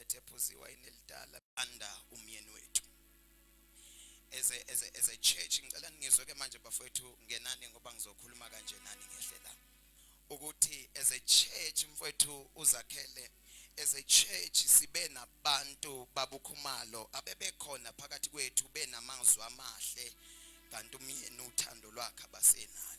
ethephuziwa inelidala anda umyeni wethu as a, as a, as a church ngicela ningizwe ke manje bafowethu ngenani ngoba ngizokhuluma kanje nani ngehle la ukuthi as a church mfowethu uzakhele as a church sibe nabantu babukhumalo abebekhona phakathi kwethu benamazwi amahle kanti umyeni uthando lwakhe abasenalo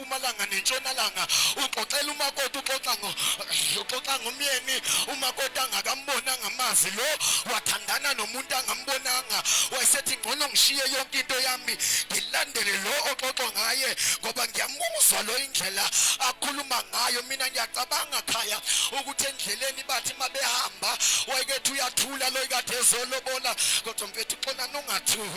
empumalanga nentshonalanga uxoxela umakoti uxoxa ngo uxoxa ngomyeni umakoti angakambonanga amazi lo wathandana nomuntu angambonanga wayesethi ngcono ngishiye yonke into yami ngilandele lo oxoxwa ngaye ngoba ngiyamuzwa lo indlela akhuluma ngayo mina ngiyacabanga khaya ukuthi endleleni bathi mabehamba wayekethi uyathula lo ikade ezolobola kodwa mfethu xona nongathuki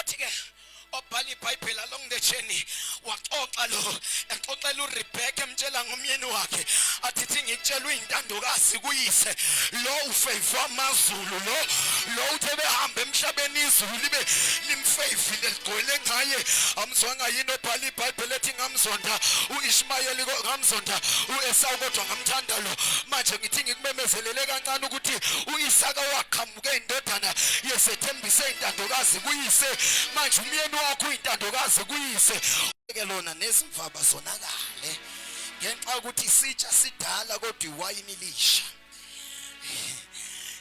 uthi ke obhala ibhayibheli along the journey waxoxa lo exoxela uRebecca emtshela ngomyeni wakhe athithi ngitshelwe intandokazi kuyise lo ufavor amazulu lo lo uthe behamba emhlabeni izulu libe limfavile ligcwele ngaye amzwanga yini obhala ibhayibheli ethi ngamzonda uIshmayeli ngamzonda uEsawu kodwa ngamthanda lo manje ngithi ngikumemezelele kancane ukuthi uIsaka waqhamuka uke indodana yesethembise intandokazi kuyise manje umyeni wakho uyintandokazi kuyise ke lona nezimfaba zonakale ngenxa ukuthi isitsha sidala kodwa iwayini lisha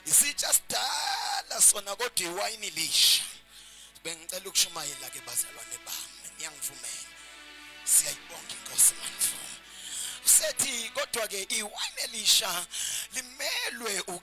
isitsha sidala sona kodwa iwayini lisha bengicela ukushumayela ke bazalwane bami ngiyangivumela siyayibonga inkosi manifuna usethi kodwa ke iwayini elisha limelwe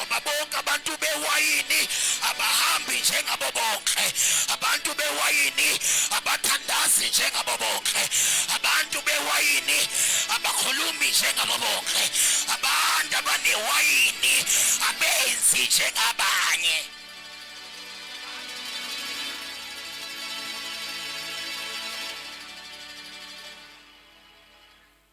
Uma bonke abantu bewayini abahambi njengabo bonke, abantu bewayini abathandazi njengabo bonke, abantu bewayini abakhulumi njengabo bonke, abantu abanewayini abenzi njengabanye.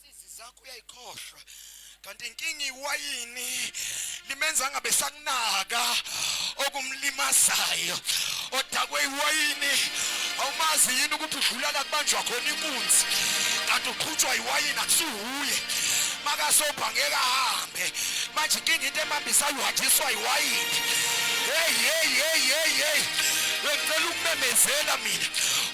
Sizi zakho uyayikhohlwa. Kanti inkinga iwayini limenza ngabe sakunaka okumlimazayo. Odakwe iwayini awumazi yini ukuthi udlula la kubanjwa khona inkunzi. Kanti uqhutshwa iwayini akusuhuye. Makasobha ngeke ahambe. Manje inkinga into emambisa uhanjiswa iwayini. Hey hey hey hey hey. Ngicela ukumemezela mina.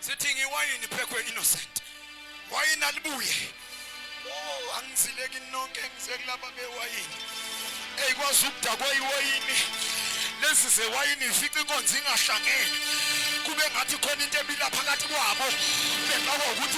sithi ngiwayini phekwe innocent wayini alibuye oh angizileki nonke ngize kulaba bewayini eyi kwazi ukudakwa iwayini lezi zewayini ifica inkonzo ingahlangene kube ngathi khona into ebila phakathi kwabo bengakwa ukuthi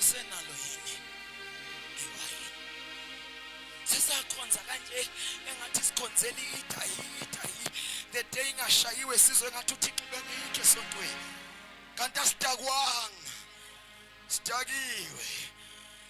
isenalo yini iwayini sisakhonza kanje engathi sikhonzela idayi idayi the day ingashayiwe sizwe ngathi uthixo ubekuyikho esontweni kanti asidakwanga sidakiwe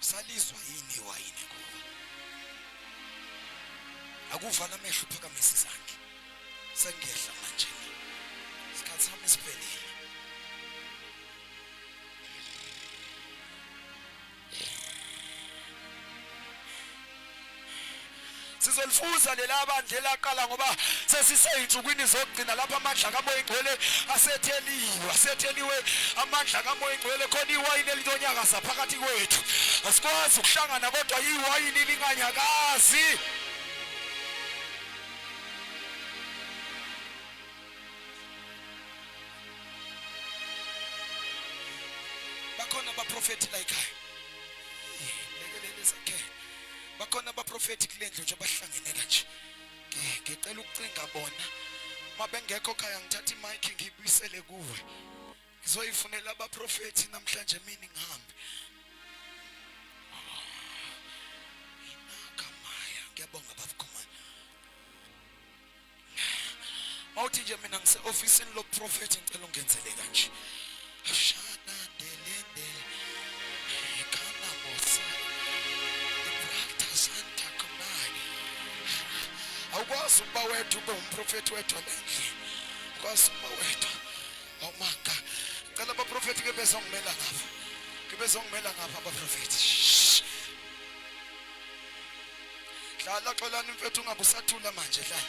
Usalizwa yini iwayini kuwe? Akuvala amehlo phakamise izandla. Sengiyehla manje. Isikhathi sami siphelile. sizolifuza lela bandla elaqala ngoba sesiseyinsukwini zokugcina lapha amandla kamoya ingcwele asetheliwe asetheliwe amandla kamoya ingcwele khona iwayini elitonyakaza phakathi kwethu asikwazi ukuhlangana kodwa iwayini linganyakazi bakhona abaprofethi layikhaya lekelele zakhe bakhona abaprofethi kule ndlu nje abahlangene kanje ngicela ukucinga bona uma bengekho khaya ngithatha imayikhi ngiyibuyisele kuwe ngizoyifunela abaprofethi namhlanje mina ngihambe mawuthi nje mina ngise ofisini lo prophet ngicela ungenzele kanje ashana ndelendele ikana mosa ibrata santa kumani awukwazi ukuba wedwa ube umprofeti wedwa nendle ukwazi ukuba wedwa awumanga cela abaprofeti ke bezongimela ngapha ke bezongimela ngapha abaprofeti dlala xolani mfethu ungabe usathula manje dlala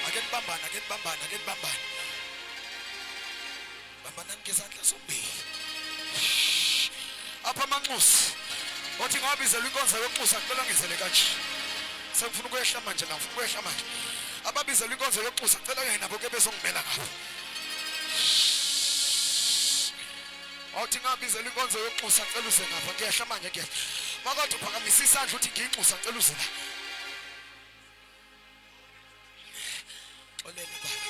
ake nibambane ake nibambane ake nibambane bambanani ngezandla zombili apha amanxusi othi ngawabizelwa inkonzo yokuxusa kumele angizele kanje sengifuna ukwehla manje la ngifuna ukwehla manje ababizelwa inkonzo yokuxusa cela kanye nabo ke bezongimela ngabo awuthi ngabizela inkonzo yokuxusa ngicela uze ngapha ngiyehla manje ngiyehla makodwa uphakamisa isandla uthi ngiyinxusa ngicela uze la xolele baba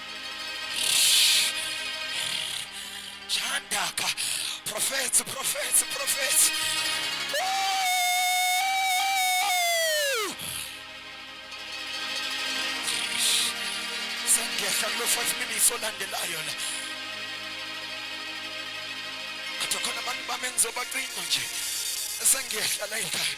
Chandaka. Profethi, profethi, profethi. Sengiyehla kulo 5 minutes olandelayo la. Athi khona abantu bami engizobacinga nje. Sengiyehla la ekhaya.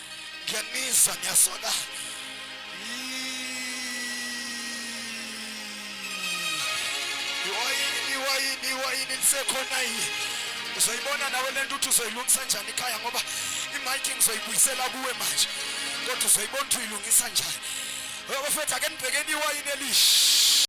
ngiyanizwa ngiyasona iwayini iwayini iwayini lisekhona yini uzoyibona nawe le nto uthi uzoyilungisa njani ikhaya ngoba imayiki ngizoyibuyisela kuwe manje kodwa uzoyibona ukuthi uyilungisa njani bafethu ake nibhekeni iwayini elishi